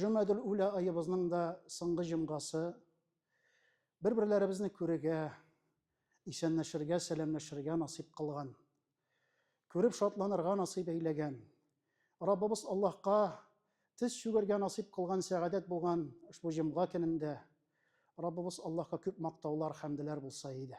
Җөмәдел үлә аебызның да соңгы җомгасы. Бер-берләребезне күрергә, исәнләшергә, сәламләшергә насыйп кылган. Күреп шатланырга насыйп әйләгән. Раббыбыз Аллаһка тез чүгергә насыйп кылган сәгадәт булган ошбу җомга көнендә Раббыбыз Аллаһка күп мактаулар, хәмделәр булса иде.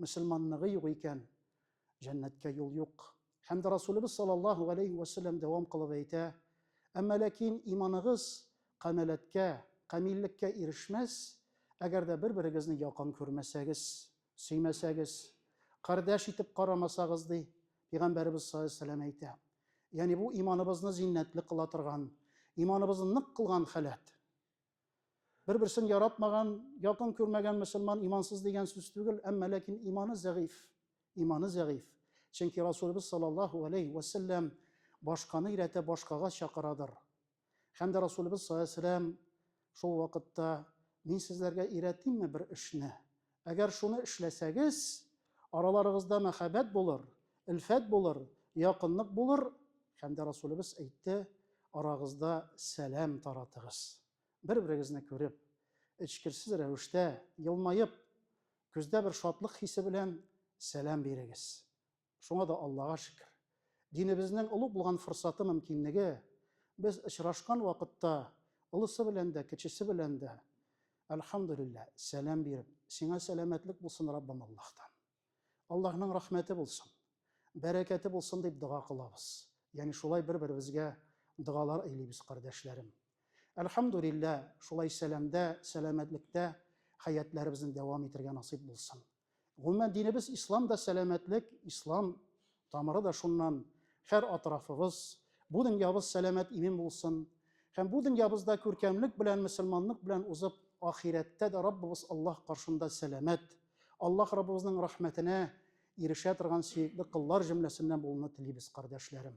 мөселманлыгы юк икән, җәннәткә юл юк. Һәм дә Расулыбыз саллаллаһу галәйһи вә сәлләм дәвам кылып әйтә, Әмма ләкин иманыгыз камәләткә, камиллеккә ирешмәс, әгәр дә бер-берегезне якын күрмәсәгез, сөймәсәгез, кардәш итеп карамасагыз, ди Пәйгамбәребез саллаллаһу галәйһи вә сәлләм әйтә. Ягъни бу иманыбызны зиннәтле кыла торган, иманыбызны нык кылган халәт. Бер-берсен яратмаган, якын күрмәгән мөселман имансыз дигән сүз түгел, әмма ләкин иманы зәгыйф. Иманы зәгыйф. Чөнки Расулыбыз саллаллаһу алейһи вә сәлләм башканы өйрәтә, башкага чакырадыр. Һәм дә Расулыбыз саллаллаһу алейһи вә сәлләм шул вакытта, Мин сезләргә өйрәтимме бер эшне? Әгәр шуны эшләсәгез, араларыгызда мәхәббәт булыр, элфәт булыр, якынлык булыр, һәм дә Расулебез әйтте, Арагызда сәлам таратыгыз. Бер-берегезне күреп, эчкерсез рәвештә, елмаеп, күздә бер шатлык хисе белән сәлам бирегез. Шуңа да Аллага шөкер. Динебезнең олуг булган форсаты, мөмкинлеге, без очрашкан вакытта олысы белән дә, кечесе белән дә, әлхәмдүлиллә, сәлам биреп, сиңа сәламәтлек булсын, Раббым, Аллаһтан. Аллаһның рәхмәте булсын, бәрәкәте булсын, дип дога кылабыз. Ягъни шулай бер-беребезгә догалар эйлибез, кардәшләрем. Әлхәмдүлиллә, шулай сәламдә, сәламәтлектә хәятләребезне дәвам итергә насыйп булсын. Гомумән, динебез ислам да сәламәтлек, ислам тамыры да шуннан. Һәр атрафыбыз, бу дөньябыз сәламәт имин булсын. Һәм бу дөньябызда күркәмлек белән, мөселманлык белән узып, ахирәттә дә Раббыбыз Аллаһ каршында сәламәт, Аллаһ Раббыбызның рәхмәтенә ирешә торган сөекле коллар җөмләсеннән булуны телибез, кардәшләрем.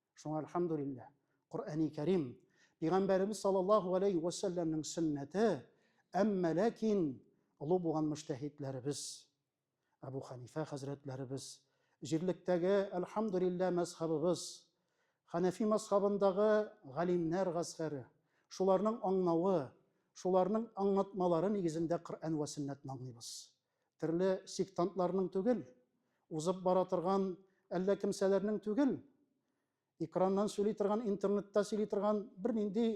Шуңа әлхәмдүлилләһ, Коръәни Кәрим, Пигамбәребез саллаллаһу галәйһи вә сәлләмнең сөннәте, әмма ләкин олуг булган мөҗтәһидләребез, Әбү Хәнифә хәзрәтләребез, җирлектәге, әлхәмдүлилләһ, мәзһабыбыз, Хәнәфи мәзһабындагы галимнәр гаскәре, шуларның аңнавы, шуларның аңнатмалары нигезендә Коръән вә сөннәтне аңлыйбыз. Терле сектантларның түгел, узып бара торган әллә кемсәләрнең түгел, экраннан сөйли торган, интернетта сөйли торган бернинди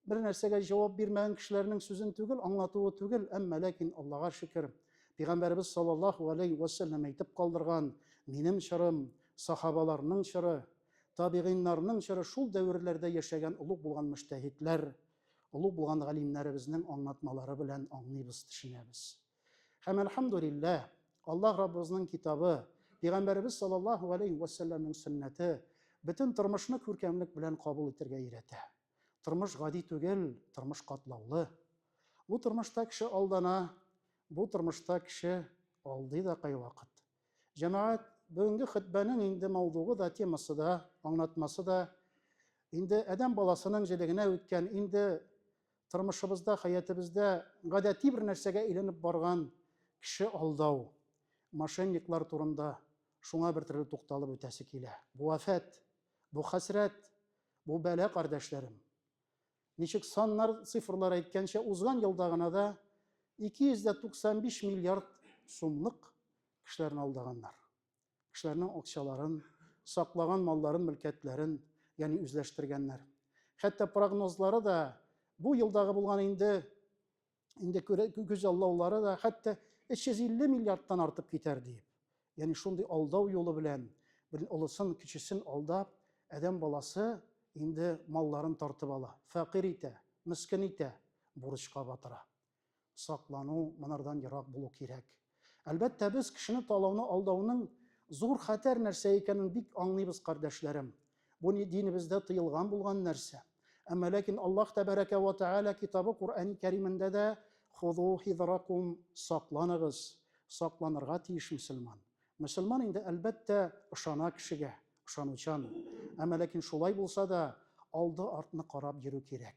бер нәрсәгә җавап бирмәгән кешеләрнең сүзен түгел, аңлатуы түгел, әмма ләкин Аллага шөкер, пигамбәребез саллаллаһу алейһи вә сәлләм әйтеп калдырган, минем чорым, сахабаларның чоры, табигыйннарның чоры, шул дәверләрдә яшәгән, олуг булган мөҗтәһидләр Олуг булган галимнәребезнең аңлатмалары белән аңлыйбыз, төшенәбез. Һәм әлхәмдүлилләһ, Аллаһ Раббыбызның китабы, Пәйгамбәребез саллаллаһу галәйһи вә сәлләмнең сөннәте бөтен тормышны күркәмлек белән кабул итәргә өйрәтә. Тормыш гади түгел, тормыш катлаулы. Бу тормышта кеше алдана, бу тормышта кеше алдый да кайвакыт. Җәмәгать, бүгенге хөтбәнең инде мавдугы да, темасы да, аңлатмасы да инде адәм баласының җелегенә үткән, инде тормышыбызда, хәятыбызда гадәти бер нәрсәгә әйләнеп барган кеше алдау, мошенниклар турында шуңа бер төрле тукталып үтәсе килә. Бу афәт, бу хәсрәт, бу бәла, кардәшләрем. Ничек саннар, цифрлар әйткәнчә, узган елда гына да 295 миллиард сумлык кешеләрне алдаганнар. Кешеләрнең акчаларын, саклаган малларын, мөлкәтләрен, ягъни үзләштергәннәр. Хәтта прогнозлары да бу елдагы булган инде инде күз алдаулары да хәтта 350 миллиардтан артып китәр диеп. Яни шундый алдау юлы белән, бер олысын, кечесен алдап, адәм баласы инде малларын тартып ала, фәкыйрь итә, мискин итә, бурычка батыра. Саклану, монардан ерак булу кирәк. Әлбәттә, без кешене талауны алдауның зур хәтәр нәрсә икәнен бик аңлыйбыз, кардәшләрем. Бу ни динебездә тыелган булган нәрсә. Әмма ләкин Аллаһ тәбәрәкә вә тәгалә китабы Куръәни Кәримендә дә Хузу хизракум, сакланыгыз, сакланырга тиеш мөселман. Мөселман инде, әлбәттә, ышана кешегә, ышанучан. Әмма ләкин шулай булса да, алды-артны карап йөрү кирәк.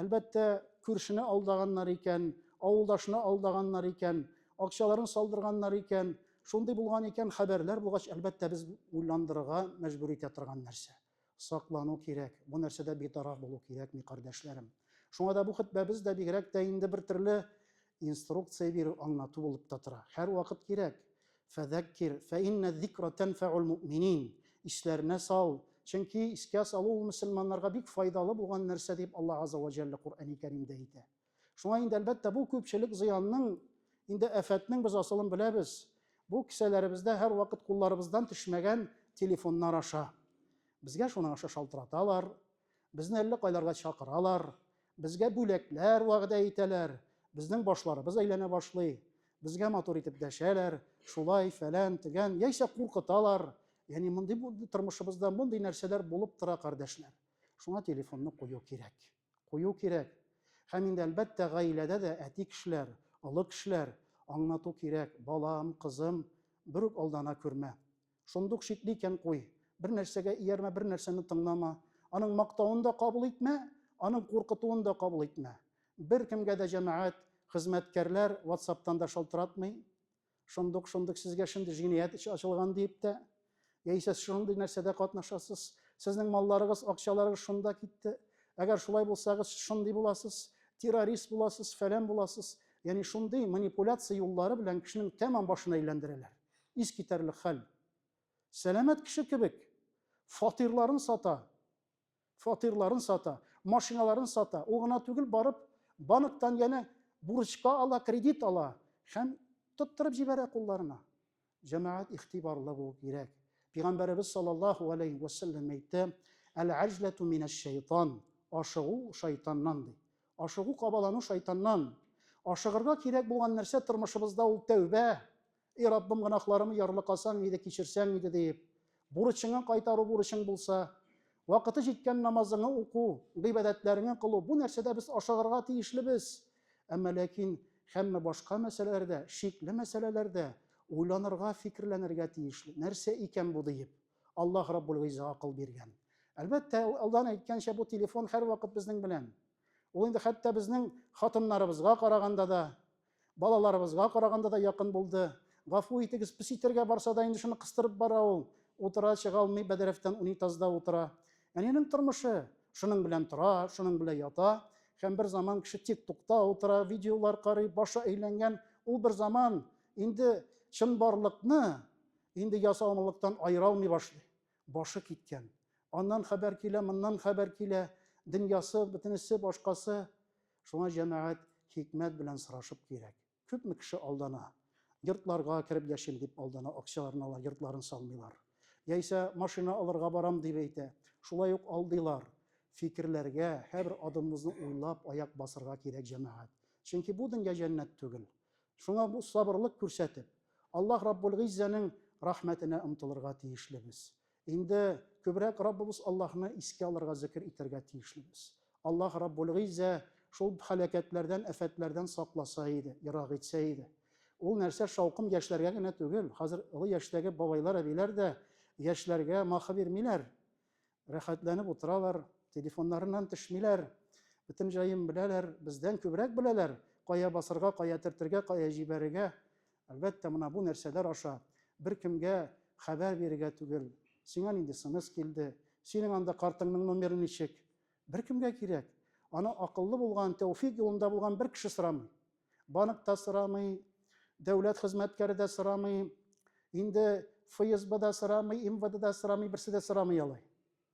Әлбәттә, күршене алдаганнар икән, авылдашны алдаганнар икән, акчаларын салдырганнар икән, шундый булган икән, хәбәрләр булгач, әлбәттә, без уйландырырга мәҗбүр итә торган нәрсә. Саклану кирәк, бу нәрсәдә битараф булу кирәкми, кардәшләрем. Шуңа да бу хөтбәбез дә бигрәк тә инде бер төрле инструкция бирү, аңлату булып та тора. Һәрвакыт кирәк. Фәзәккир, фәиннә зикра тәнфәул мөэминин, исләренә сал, чөнки искә салу ул мөселманнарга бик файдалы булган нәрсә, дип Алла Газза вә Җәллә Коръәни Кәримдә әйтә. Шуңа инде, әлбәттә, бу күпчелек зыянның, инде афәтнең без асылын беләбез, бу кесәләребездә һәрвакыт кулларыбыздан төшмәгән телефоннар аша. Безгә шуның аша шалтыраталар, Безне әллә кайларга чакыралар, безгә бүләкләр вәгъдә итәләр, безнең башларыбыз әйләнә башлый, безгә матур итеп дәшәләр, шулай, фәлән, тегән, яисә куркыталар. Яни мондый тормышыбызда мондый нәрсәләр булып тора, кардәшләр. Шуңа телефонны кую кирәк. Кую кирәк. Һәм инде әлбәттә гаиләдә дә әти кешеләр, олы кешеләр аңлату кирәк. Балам, кызым, бер үк алдана күрмә. Шундук шикле икән, куй. Бер нәрсәгә иярмә, бер нәрсәне тыңлама. Аның мактавын да кабул итмә, аның куркытуын да кабул итмә. Беркемгә дә җәмәгать, хезмәткәрләр ватсаптан да шалтыратмый. Шундук, шундук сезгә шундый җинаять эше ачылган диеп тә, яисә шундый нәрсәдә катнашасыз, сезнең малларыгыз, акчаларыгыз шунда китте, әгәр шулай булсагыз, сез шундый буласыз, террорист буласыз, фәлән буласыз, ягъни шундый манипуляция юллары белән кешенең тәмам башын әйләндерәләр. Искитәрлек хәл. Сәламәт кеше кебек, фатирларын сата, фатирларын сата, машиналарын сата. Ул гына түгел, барып, банктан янә бурычка ала, кредит ала һәм тоттырып җибәрә кулларына. Җәмәгать, игътибарлы булу кирәк. Пигамбәребез саллаллаһу галәйһи вә сәлләм әйтте, Әл-әҗләтү минәш-шәйтан, ашыгу шайтаннан, ди. Ашыгу, кабалану шайтаннан. Ашыгырга кирәк булган нәрсә тормышыбызда ул тәүбә, И Раббым, гөнаһларымны ярлыкасаң иде, кичерсәң иде, диеп, бурычыңа кайтару бурычың булса, вакыты җиткән намазыңны уку, гыйбадәтләреңне кылу, бу нәрсәдә без ашыгырга тиешлебез. Әмма ләкин һәммә башка мәсьәләләрдә, шикле мәсьәләләрдә уйланырга, фикерләнергә тиешле. Нәрсә икән бу диеп? Аллаһ Раббул Гыйзза акыл биргән. Әлбәттә, алдан әйткәнчә, бу телефон һәрвакыт безнең белән. Ул инде хәтта безнең хатыннарыбызга караганда да, Балаларыбызга караганда да якын булды. Гафу итегез, пес итәргә барса да инде шуны кыстырып бара ул. Утыра, чыга алмый, бәдрәфтән унитазда утыра. Әнинең тормышы, шуның белән тора, шуның белән ята. Һәм бер заман кеше тик тукта утыра, видеолар карый, башы әйләнгән, ул бер заман инде чынбарлыкны инде ясалмалыктан аера алмый башлый. Башы киткән. Аннан хәбәр килә, моннан хәбәр килә, дөньясы, бөтенесе, башкасы. Шуңа җәмәгать хикмәт белән сорашып кирәк. Күпме кеше алдана. Йортларга кереп яшим дип алдана, акчаларын ала, йортларын салмыйлар. Яисә машина алырга барам дип әйтә. Шулай ук алдыйлар. Фикерләргә, һәрбер адымыбызны уйлап аяк басырга кирәк җәмәгать. Чөнки бу дөнья җәннәт түгел. Шуңа бу сабырлык күрсәтеп, Аллаһ Раббулгыйззәнең рәхмәтенә омтылырга тиешлебез. Инде күбрәк Раббыбыз Аллаһны искә алырга, зекер итәргә тиешлебез. Аллаһ Раббул-Гыйззә шул һәлакәтләрдән, афәтләрдән сакласа иде, ерак итсә иде. Ул нәрсә шаукым яшьләргә генә түгел, хәзер олы яшьтәге бабайлар, әбиләр дә яшьләргә махы бирмиләр, рәхәтләнеп утыралар, телефоннарыннан төшмиләр, бөтен җаен беләләр, бездән күбрәк беләләр, кая басарга, кая төртергә, кая җибәрергә, Әлбәттә, менә бу нәрсәләр аша беркемгә хәбәр бирергә түгел. Сиңа нинди смс килде? Синең анда картыңның номеры ничек? Беркемгә кирәк. Аны акыллы булган, тәүфик юлында булган бер кеше сорамый. Банк та сорамый, дәүләт хезмәткәре дә сорамый, инде ФСБ да сорамый, МВД да сорамый, берсе дә сорамый алай.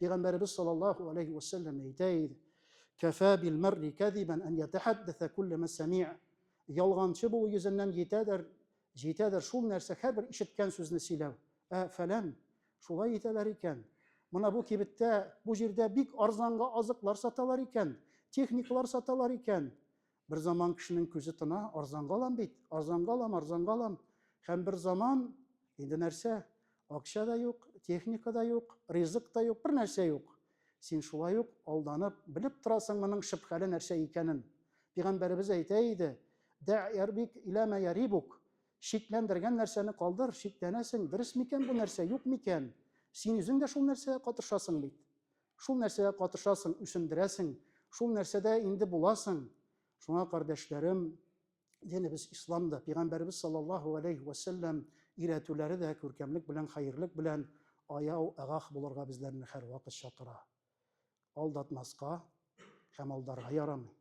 Пәйгамбәребез саллаллаху алейхи ва сәлләм әйтә иде: "Кафа бил марри кадибан ан ятахаддаса куллама сами'а". Ялганчы булу йөзеннән җитәдер, җитәдер шул нәрсә һәрбер ишеткән сүзне сөйләү. Ә фәлән, шулай итәләр икән. Мына бу кибеттә, бу җирдә бик арзанга азыклар саталар икән, техникалар саталар икән. Бер заман кешенең күзе тына, арзанга алам бит, арзанга алам, арзанга алам. Һәм бер заман инде нәрсә? Акча да юк, техника да юк, ризык та юк, бер нәрсә юк. Син шулай ук алданып, белеп торасың моның шөбһәле нәрсә икәнен. Пигамбәребез әйтә иде, Дә ярбик илә мә ярибук. Шикләндергән нәрсәне калдыр, шикләнәсең, дөрес микән бу нәрсә, юк микән? Син үзең дә шул нәрсәгә катышасың бит. Шул нәрсәгә катышасың, үсендерәсең, шул нәрсәдә инде буласың. Шуңа, кардәшләрем, динебез ислам да, пигамбәребез саллаллаһу галәйһи вә сәлләм өйрәтүләре дә күркәмлек белән, хәерлек белән аяу, агах булырга безләрне һәрвакыт чакыра. Алдатмаска һәм алдарга ярамый.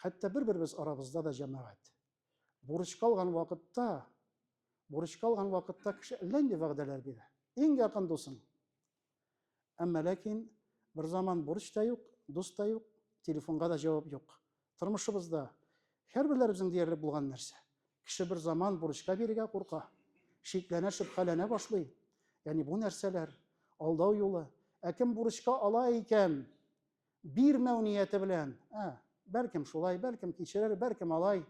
Хәтта бер-беребез арабызда да җәмәгать. Бурычка алган вакытта, бурычка алган вакытта кеше әллә нинди вәгъдәләр бирә. Иң якын дусың. Әмма ләкин бер заман бурыч та юк, дус та юк, телефонга да җавап юк. Тормышыбызда һәрберләребезнең диярлек булган нәрсә. Кеше бер заман бурычка бирергә курка, шикләнә, шөбһәләнә башлый. Ягъни бу нәрсәләр, алдау юлы. Ә кем бурычка ала икән, Бирмәү нияте белән, ә, бәлкем шулай, бәлкем кичерер, бәлкем алай.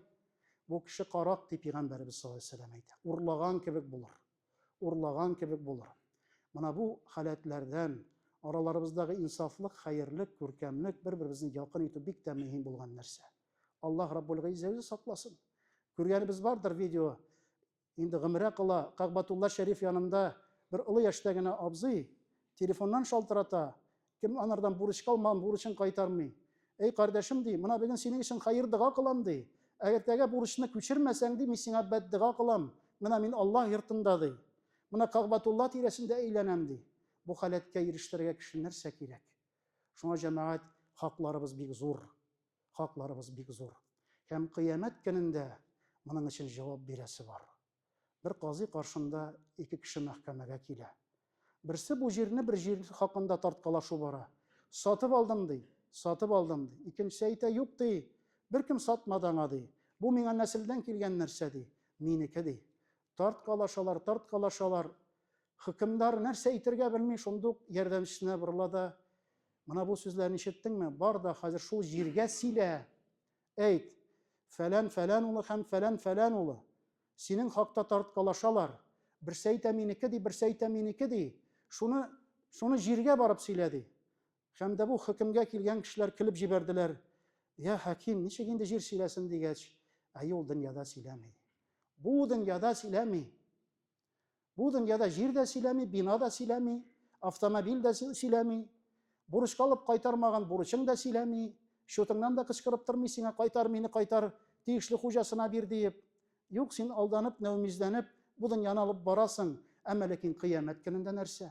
Бу кеше карак, дип пигамбәребез саллаллаһу алейһи ва сәлләм әйтә. Урлаган кебек булыр. Урлаган кебек булыр. Менә бу халәтләрдән, араларыбыздагы инсафлык, хәерлек, күркәмлек, бер-беребезне якын итү бик тә мөһим булган нәрсә. Аллаһ Раббул Гыйззә үзе сакласын. Күргәнебез бардыр видео, Инде гомерә кала, Кагъбатулла шәриф янында бер олы яшьтә генә абзый телефоннан шалтырата, Кем анардан бурычка алмаган бурычын кайтармый? Әй, кардәшем, ди, мына бүген синең өчен хәер-дога кылам, ди. Әгертәгә бурычны күчермәсәң, ди, мин сиңа бәддога кылам, менә мин Аллаһ йортында, ди. Менә Кагъбатулла тирәсендә әйләнәм, ди. Бу халәткә ирештерергә кеше нәрсә кирәк? Шуңа, җәмәгать, хакларыбыз бик зур. хакларыбыз бик зур. Һәм Кыямәт көнендә моның өчен җавап бирәсе бар. Бер казый каршында ике кеше мәхкәмәгә килә. Берсе бу җирне бер җир хакында тарткалашу бара. Сатып алдым, ди. Сатып алдым, ди. Икенчесе әйтә, юк, ди. Беркем сатмады аңа, ди. Бу миңа нәселдән килгән нәрсә, ди. Минеке, ди. Тарткалашалар, тарткалашалар. Хөкемдар нәрсә әйтергә белми, шунда ук ярдәмчесенә борыла да, Менә бу сүзләрне ишеттеңме? Бар да хәзер шул җиргә сөйлә. Әйт, фәлән фәлән улы һәм фәлән фәлән улы синең хакта тарткалашалар. Берсе әйтә минеке ди, берсе әйтә минеке ди. Шуны, шуны җиргә барып сөйлә, ди. Һәм дә бу хөкемгә килгән кешеләр көлеп җибәрделәр. Я хәким, ничек инде җир сөйләсен дигәч, әйе ул дөньяда сөйләми. Бу дөньяда сөйләми. Бу дөньяда җир дә сөйләми, бина да сөйләми, автомобиль дә сөйләми. Бурычка алып кайтармаган бурычың да сөйләми. Счетыңнан да кычкырып тормый сиңа кайтар, мине кайтар, тиешле хуҗасына бир диеп. Юк, син алданып, нәүмизләнеп, бу дөньяны алып барасың. Әмма ләкин кыямәт көнендә нәрсә?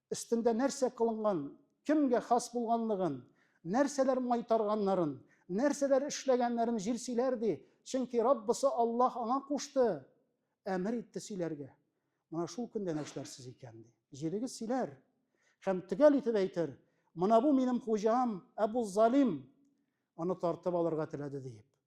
өстендә нәрсә кылынган, кемгә хас булганлыгын, нәрсәләр майтарганнарын, нәрсәләр эшләгәннәрен җил сөйләр, ди. Чөнки Раббысы Аллаһ аңа кушты, әмер итте сөйләргә. Менә шул көндә нәршләрсез икән, ди. Җилегез сөйләр һәм төгәл итеп әйтер, Менә бу минем хуҗам Әбу Залим, аны тартып алырга теләде, диеп.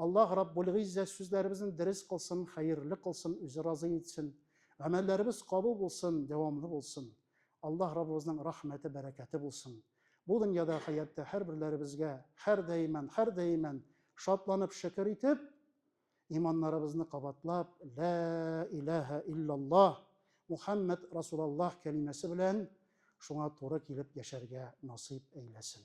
Аллаһ Раббулгыйззә сүзләребезне дерес кылсын, хәерле кылсын, үзе разый итсен. Гамәлләребез кабул булсын, дәвамлы булсын. Аллаһ Раббыбызның рәхмәте, бәрәкәте булсын. Бу дөньяда, хәяттә һәрберләребезгә һәрдаиман, һәрдаиман шатланып, шөкер итеп, иманнарыбызны кабатлап, Лә иләһә иллаллаһ, Мухәммәд Расулаллаһ кәлимәсе белән шуңа туры килеп яшәргә насыйп әйләсен.